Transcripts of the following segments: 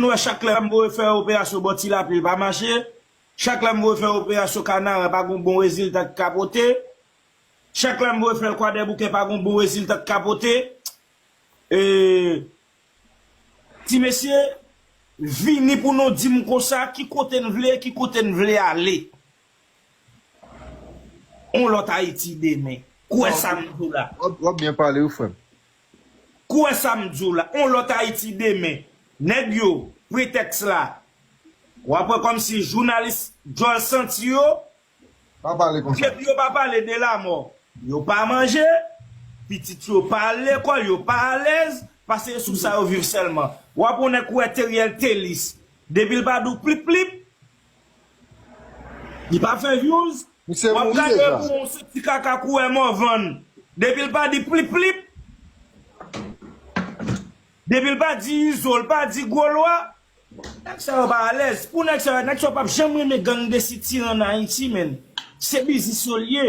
Mwen wè chak lè m voye fè operasyon bò ti lapli li pa mache, chak lè m voye fè operasyon kanaran pa gon bon rezilta ki ka pote, chak lè m voye fè l kwadèboukè pa gon bon rezilta ki ka pote. Ti mesye, vini pou nou di m konsa ki kote n vle, ki kote n vle ale. On lòt Ayiti demen. Kwè sa m di w la. Wap byen pale wi frè m. Kwè sa m di w la, on lòt Ayiti demen. Nèg yo, pretèks la. W ap wè kòmsi jounalis djòl santi yo, Pa pale konsa. depi yo pa pale de lamò, yo pa manje, pitit yo pa al lekòl, yo pa alèz, pase sou sa yo viv sèlman. W ap on nèg kwè Theriel Thélice, depi l pa di w plip plip, Li pa fè vyouz. Misye Wap mouri gade deja. pou ou se ti kaka kouwè morvan depil pa di plip plip depil pa di izo l pa di gwo lwa. Nèg sa yo pa alèz pou nèg sa yo nèg sa yo pap janm renmen gang de sitiran nan ayiti menn se biznis yo l ye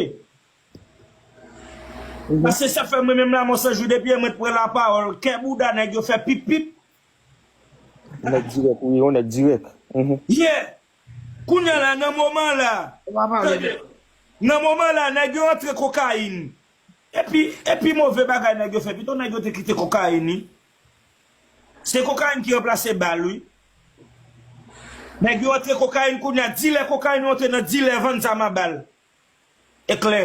paske sa fèm renmen m lamò sanjou depi yè mwen t pran lapawòl kè bouda nèg yo fè pip pip Yon nèg dirèk wi, yon nèg dirèk. Yeah! Kounya la, nan moman la, tande, nan moman la nèg yo antre kokayin. Epi, epi move bagay nèg yo fè, pito nèg yo te kite kokayin wi. Se kokayin ki ranplase bal wi. Nèg yo antre kokayin kounya, dilè kokayin yo antre nan dilè vann zam a bal. Eklè.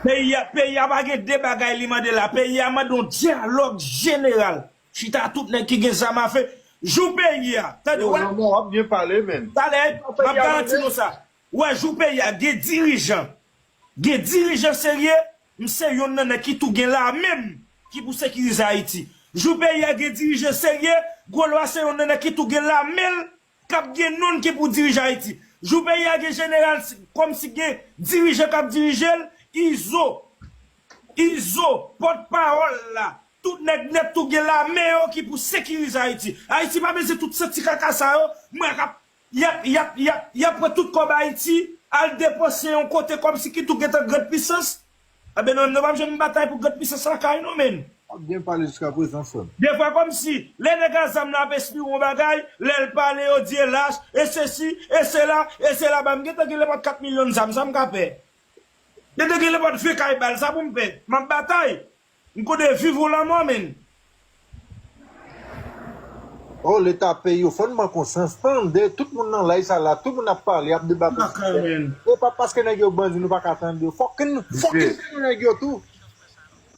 Peyi a peyi a pa gen de bagay li mande la peyi a mande yon dyalòg jeneral chita tout nèg ki gen zam afe jou peyi a tande wè tale map garanti nou sa wè jou peyi a gen dirijan gen dirijan serye m se yonn nan nèg ki tou gen lame m ki pou sekirize ayiti jou peyi a gen dirijan serye gwo lwa se yonn nan nèg ki tou gen lame l Kap gen nonn ki pou dirije ayiti. Jou peyi a gen jeneral kom si gen dirijan kap dirijel izo izo pot pawol la tout neg net tou gen lame yo ki pou sekirize ayiti ayiti pa bezyen tout santi kaka sa yo m wè kap yap yap yap yap pran tout kob ayiti al depanse yon kote kom si ki tou gentan grand pisans Anben nou menm nou pap janm batay pou grand pisans lakay nou menn. Wap byen pale jiska prezan frem. Defwa komsi lè nèg a zam la ap espire yon bagay, lèl pale yo di e lach, e sesi, e sela, e sela banm gentan gen lenpòt 4 milyon zam sa m ka fè? Gentan gen lenpòt 20 kay bal sa pou m fè? Map batay. M kode viv ou la mò menn. Oh leta pey yo fòn ban konsans tande tout moun nan live sa la tout moun ap pale ap debate sijè epa paske nèg yo bandi nou paka tande yo fòk nou fòk nou tande nèg yo tou.